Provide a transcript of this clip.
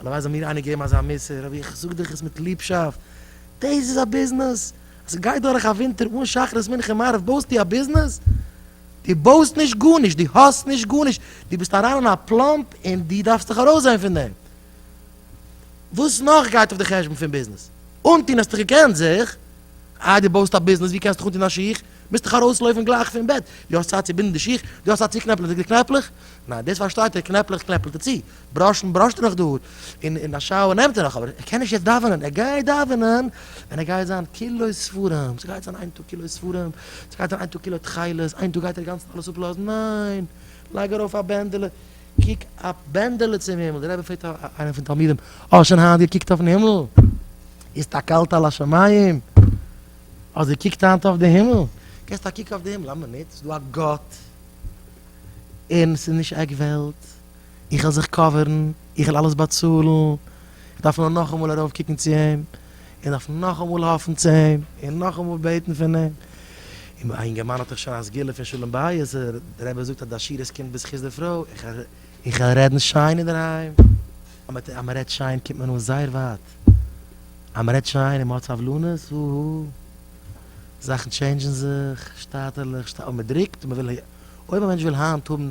הלוואי זאל מיר איינער געבן אזא מוסר, אבער איך זאג דיך עס מיט ליבשאפט, דאס איז א ביזנעס, אז איך גיי דורך א ווינטער אן שחרית מנחה מעריב בויסטו א ביזנעס? דו בויסט נישט גארנישט, דו האסט נישט גארנישט, דו ביסט אריין אין א פלאמפ און דו דארפסט זיך ארויסזען פון דעם, וואס נאך גייט אויף די חשבון פון ביזנעס? אנטון האסטו געקענט זיך, איי דו בויסט א ביזנעס ווי קענסטוך אנטון א שיך? מוזטוך ארויסלויפן גלייך פון בעט, דו האסט צייט צו בינדן די שיך? דו האסט צייט צו קנעפלען די קנעפלעך? ניין דאס פארשטייט איר, קנעפלעך קנעפלט איר צו, בראשן בראשט ער נאך דא, און אין א שאוער נעמט ער נאך, אבער ער קען נישט יעצט דאווענען, ער גייט דאווענען ווען ער גייט זיין כולו ספרים, ס'גייט זיין איין טאג כולו ספרים, ס'גייט זיין איין טאג כולו תכלת, איין טאג גייט ער אינגאנצן אלעס אפלאזן, ניין, לייג ארויף א בענדעלע, קוק א בענדעלע צום הימל, דער רבי פרעגט איינעם פון תלמידים, האסט שוין היינט געקוקט אויפן הימל? הסתכלת על השמים? האסט געקוקט היינט אויף די הימל? געסט א קוק אויף די הימל, למה ניט, ס'איז דא א גאט, און ס'איז נישט עק וועלט, איך העל זיך קאווערן, איך העל אלעס באצאלן, איך דארף נאר נאכאמאל ארויף קוקן צו אים, איך דארף נאכאמאל האפן צו אים, און נאכאמאל בעטן פון אים. און א אינגערמאן האט דאך שוין א סגולה פון שלום בית, די רבי זאגט אז די עשירות קומט בזכות די פרוי, איך העל רעדן שיין אינדערהיים, אז מען רעדט שיין קומט מען אן זייער ווייט, אז מען רעדט שיין און מען האט סבלנות, הו הא, זאכן טשעינדזשן זיך, שטאטערליך, אויב מען דרוקט, אויב א מענטש וויל היינט האבן.